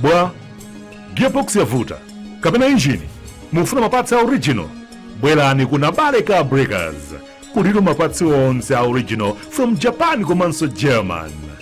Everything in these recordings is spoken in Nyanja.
bwa gearbox yavuta kapena injini mufuna mapatsi a original bwerani ku nabale car breakers kulitu mapatsi onse a original from japan komanso german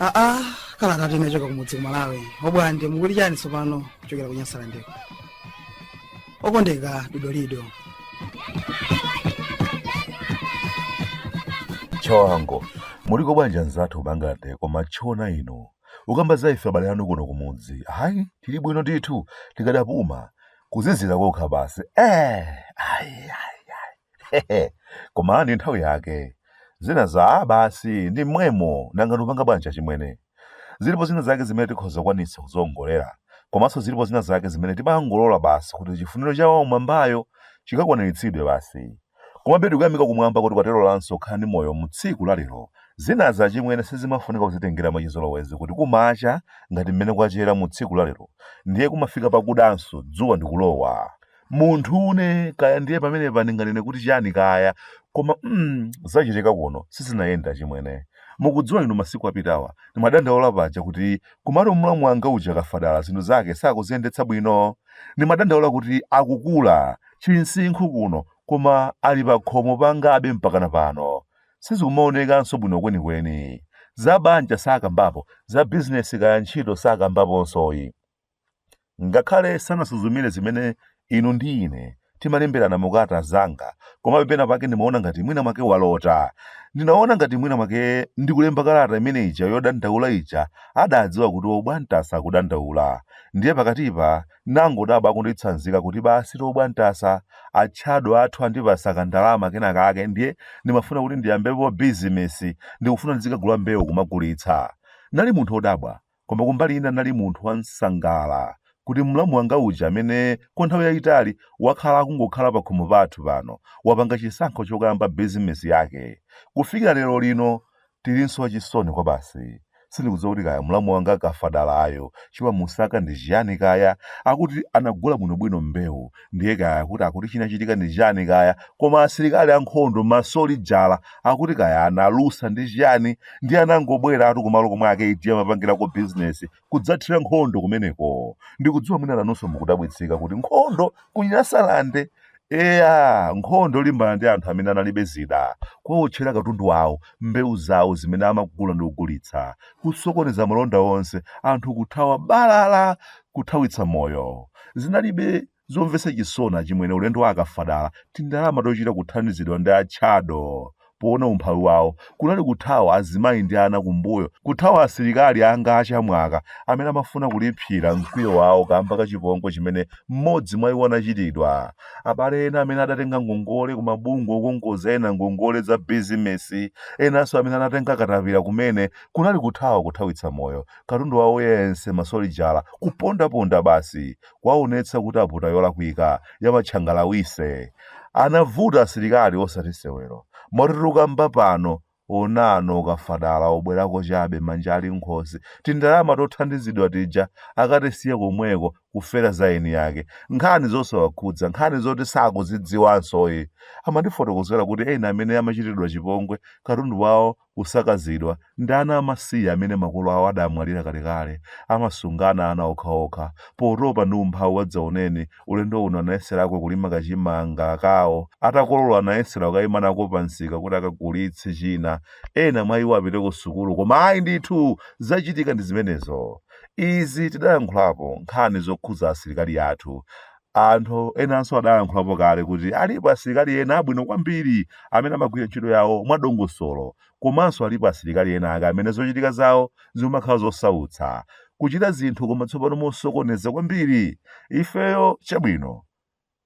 aa kalata tinachoka kumudzi ku malawi obwande mukuti chani tsopano kuchokera ku nyasalandeko okondeka didolido choango muliko bwanji anzathu bangate kumatchona inu Kukamba za ife abale anu kuno kumudzi, ayi, tili bwino ndithu, tikadapuma, kuzizira kokha basi, eeh, ayi, ayi, ayi, hehe, koma ndi nthawi yake, zina za aah basi, ndi mmwemo, nanga ndikupanga bwanji achimwene? Zilipo zina zake zimene tikhoza kukwanitsa kudziongolera, komanso zilipo zina zake zimene timangolola basi kuti chifuniro cha Wam'mwambayo chikakwaniritsidwe basi. Komabe tikuyamika kumwamba kuti kwatilolanso kukhala ndi moyo mu tsiku la lero. Zinazi achimwene sizimafunika kuzitengera mwachizolowezi kuti kumacha ngati mmene kwachera mu tsiku la lero ndiye kumafika pakudanso dzuwa ndikulowa. Munthune kaya ndiye pamenepa ndinganene kuti chani kaya koma mm zachitika kuno sizinayende achimwene. Mukudziwa inu masiku apitawa ndimadandaula paja kuti kumalo mlamu wanga uja Kafadala zinthu zake sakuziyendetsa bwino? Ndimadandaula kuti akukula Chinsinkhu kuno, koma ali pakhomo pangabe mpakana pano. Sizikumaonekanso bwino kwenikweni. Za banja sakambapo, za bizinesi kaya ntchito sakambaponso yi. Ngakhale sanasuzumire zimene inu ndi ine timalemberana mu kalata zanga, komabe pena pake ndimaona ngati mwina mwake walota. Ndinaona ngati mwina mwake ndikulemba kalata imene ija yodandaula ija adadziwa kuti obwantasa akudandaula. Ndiye pakatipa Ndinangodabwa akunditsanzika kuti basitu obwantasa, atchado athu andipatsa kandalama kena kake ndiye ndimafuna kuti ndiyambepo bizinesi, ndikufuna ndizikagula mbewu kumagulitsa. Ndinali munthu odabwa, koma kumbali ina ndinali munthu wansangala kuti mlamu wanga uja amene kwa nthawi yayitali wakhala akungokhala pakhomo pathu pano wapanga chisankho chokayamba bizinesi yake. Kufikira lero lino Tilinso achisoni kwabasi. Sindikudziwa kuti kaya mlamu wanga Kafadalayo chimamusaka ndi chiyani kaya. Akuti anagula bwinobwino mbewu ndiye kaya kuti akuti chinachitika ndi chani kaya koma asilikali ankhondo masolijala akuti kaya analusa ndi chiyani ndiye anangobweratu kumalo komwe a KT amapangirako bizinesi kudzathira nkhondo kumeneko. Ndikudziwa mwina inunso mukudabwitsika kuti nkhondo ku Nyasalande. Eya, nkhondo yolimbana ndi anthu amene analibe zida, kuwawotchera katundu wawo, mbewu zawo zimene amagula ndi kugulitsa, kusokoneza malonda onse, anthu kuthawa balala, kuthawitsa moyo. Zinalibe zomvetsa chisoni achimwene ulendo wa akafadala tindalama tochita kuthandizidwa ndi a chado poona umphawi wawo kunali kuthawa azimayi ndi ana kumbuyo kuthawa asilikali anga achamwaka amene amafuna kulipsira mkwiyo wawo kamba ka chipongwe chimene mmodzi mwa iwo anachitidwa abale ena amene adatenga ngongole ku mabungwe okongoza ena ngongole za bizinesi enanso amene anatenga katapira kumene kunali kuthawa kuthawitsa moyo katundu wawo yense masolijala kupondaponda basi kwaonetsa kuti aputa yolakwika ya batchangalawise anavuta asilikali osati sewero moti tukamba pano unano akafadala abwerako chabe manja ali nkhosi tindalama tothandizidwa tija akatisiya komweko kufera za eni yake nkhani zosawakhudza nkhani zoti sakuzidziwanso ayi amandifotokozera kuti ena amene amachitidwa chipongwe katundu wawo kusakazidwa, ndi ana amasiye amene makolo awo adamwalira kalekale, amasungana ana okhaokha, potopa ndi umphawi wadzaoneni, ulendo uno anayeserako kulima kachimanga kawo, atakolola anayesera kukaima nako pamsika kuti akagulitse china, ena mwa iwo apite kusukulu, koma ayi ndithu! Zachitika ndi zimenezo. Izi tidayankhulapo, nkhani zokhudza asilikali athu, Anthu enanso adalankhulapo kale kuti alipo asilikali ena abwino kwambiri amene amagwira ntchito yawo mwadongosolo komanso alipo asilikali enaake amene zochitika zawo zimakhala zosautsa, kuchita zinthu koma tsopano mosokoneza kwambiri. Ifeyo chabwino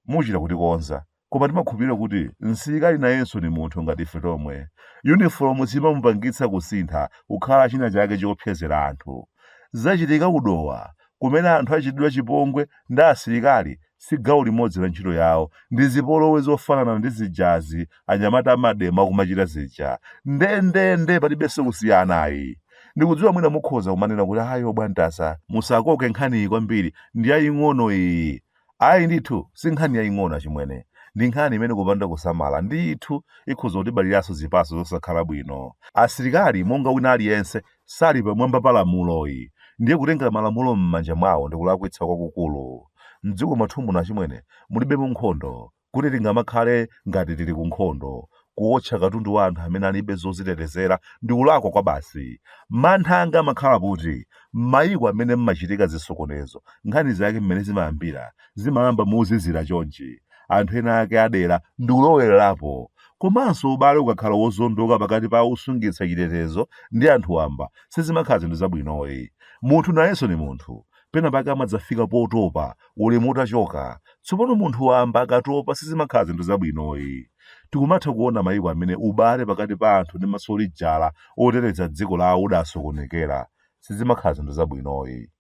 muchita kutikonza. Koma timakhulupirira kuti msilikali nayenso ndi munthu ngati ife tomwe. Yunifolomu siimamupangitsa kusintha kukhala chinachake choopsezera anthu. Zachitika ku Dowa, kumene anthu achitidwa chipongwe ndi asilikali si gawo limodzi la ntchito yawo, ndi zipolowe zofanana ndi zijazi anyamata a mademo akumachita zija. Ndendende, palibenso kusiyana ayi. Ndikudziwa mwina mukhoza kumanena kuti ayi obwantasa. Musakoke nkhaniyi kwambiri, ndiyaying'ono iyi. Ayi ndithu, si nkhani yaing'ono achimwene. Ndi nkhani imene kupanda kusamala ndithu ikhoza kutibaliranso zipatso zosakhala bwino. Asilikali monga wina aliyense, sali pamwamba pa lamulo ayi, ndiye kutengera malamulo m'manja mwawo ndi kulakwitsa kwakukulu. M'dziko mwathu muno achimwene, mulibemo nkhondo, kuti tingamakhale ngati tili ku nkhondo. Kuwotcha katundu wa anthu amene alibe zozitetezera ndi kulakwa kwabasi. Mantha anga amakhala kuti m'mayiko amene m'machitika zisokonezo, nkhani zake mmene zimayambira, zimayamba mozizira chonchi, anthu ena ake a dera ndi kulowererapo. Komanso ubale ukakhala wozondoka pakati pa osungitsa chitetezo ndi anthu wamba, sizimakhala zinthu zabwino ayi. Munthu nayenso ndi munthu, penapake amadzafika potopa, ulemu utachoka. Tsopano munthu wamba akatopa sizimakhala zinthu zabwino ayi. Tikumatha kuona mayiko amene ubale pakati pa anthu ndi masolijala oteteza dziko lawo udasokonekera. Sizimakhala zinthu zabwino ayi.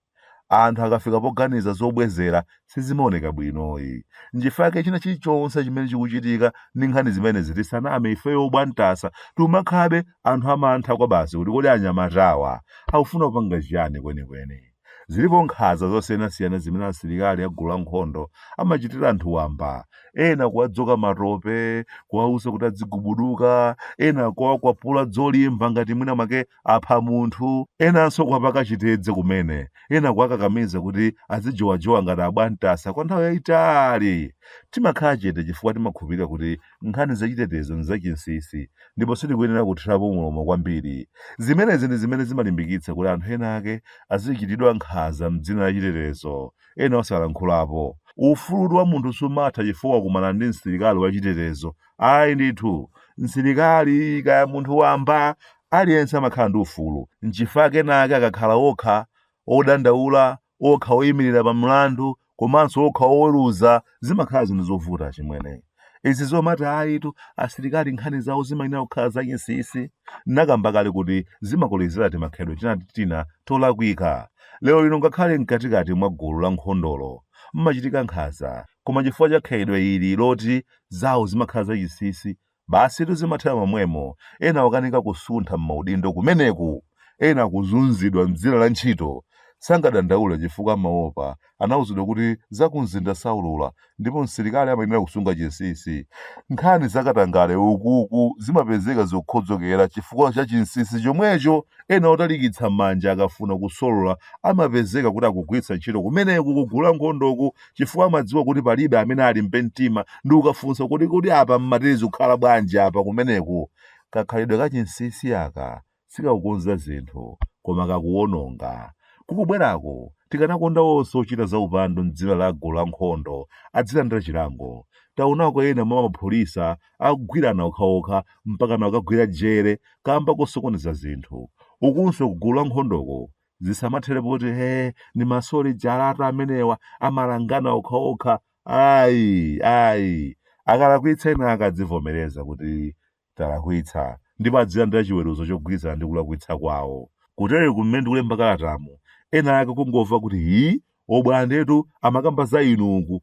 Anthu akafika poganiza zobwezera sizimaoneka bwino ayi. Nchifukwa chake china chilichonse chimene chikuchitika ndi nkhani zimenezi tisaname ifeyo a Bwantasa tikumakhalabe anthu amantha kwabasi kuti kodi anyamatawa akufuna kupanga chiyani kwenikweni. Zilipo nkhanza zosiyanasiyana zimene asilikali a gulu la nkhondo amachitira anthu wamba, ena kuwadzoka matope, kuwauza kuti adzigubuduka, ena kuwakwapula dzolimba ngati mwina mwake apha munthu, enanso kuwapaka chitedze kumene, ena kuwakakamiza kuti adzijowajowa ngati abwantasa kwa nthawi yaitali. Timakhala chete chifukwa timakhulupirira kuti Nkhani zachitetezo ndi zachinsinsi ndipo sitikuyenera kuthirapo mulomo kwambiri. Zimenezi ndi zimene zimalimbikitsa kuti anthu enaake azichitidwa nkhanza m'dzina la chitetezo, ena osalankhulapo. Ufulu wa munthu sumatha chifukwa wakumana ndi msilikali wachitetezo. Ayi ndithu. Msilikali, kaya munthu wamba, aliyense amakhala ndi ufulu. N'chifukwa chake enaake akakhala okha, odandaula, okha oyimirira pa mlandu komanso okha oweruza zimakhala zinthu zovuta chimwene izi zomati ayitu asilikali nkhani zawo zimayenera kukhala zachinsinsi nakamba kale kuti zimakolezera timakhalidwe tina ndi tina tolakwika lero lino ngakhale mkatikati mwa gulu la nkhondolo mmachitika nkhanza koma chifukwa cha khalidwe ili loti zawo zimakhala zachinsinsi Basitu zimathera momwemo, ena okanika kusuntha mmaudindo kumeneku! Ena kuzunzidwa mdzina la ntchito, sangadandaule chifukwa amaopa, anauzidwa kuti za kumzinda saulula ndipo msilikali amayenera kusunga chinsinsi. Nkhani za katangale ukuku zimapezeka zokhodzokera chifukwa cha chinsinsi chomwecho, ena otalikitsa manja akafuna kusolola amapezeka kuti akugwiritsa ntchito kumeneku ku gulu la nkhondoku chifukwa amadziwa kuti palibe amene alimbe mtima ndi kukafunsa kuti kodi apa mmati zikukhala bwanji apa kumeneku. Kakhalidwe ka chinsinsi aka sikakukonza zinthu koma kakuwononga. Kukubwerako tikanakonda onse ochita za upandu m'dzina la gulu la nkhondo adzilandira chilango. Taonako ena mwa mapolisa akugwirana okhaokha mpakana kukagwira jere kamba kosokoneza zinthu. Ukunso ku gulu la nkhondoko zisamathere poti eee ndi masolijalatu amenewa amalangana okhaokha ayi ayi akalakwitsa ena akadzivomereza kuti talakwitsa ndipo adzilandira chiweruzo chogwirizana ndi kulakwitsa kwawo kutere kumene ndikulemba kalatamu ena ake kungomva kuti hi obwandetu amakamba za inu uku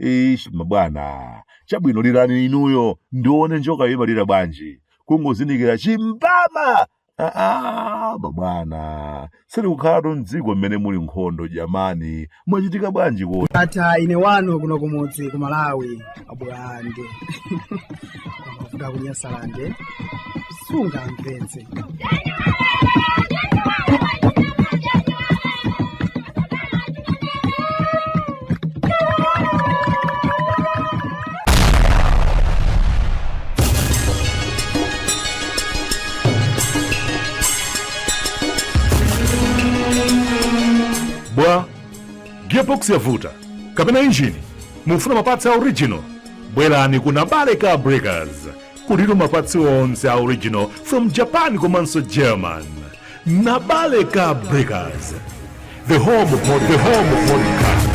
Eeeish mabwana. Chabwino lirani inuyo ndione njoka imalira bwanji. Kungozindikira chimbama! Aaa mabwana. Sitikukhalatu m'dziko mmene muli nkhondo jamani. Mwachitika bwanji kodi? Ata ine wanu kuno kumudzi ku Malawi abwande. kuvuta kunyasalande sungamvetse bwa gearbox yavuta kapena injini mufuna mapatsi a original bwerani ku nabale car breakers kulitu mapatsi onse a original from japan komanso german nabale car breakers the home of the home of modern cars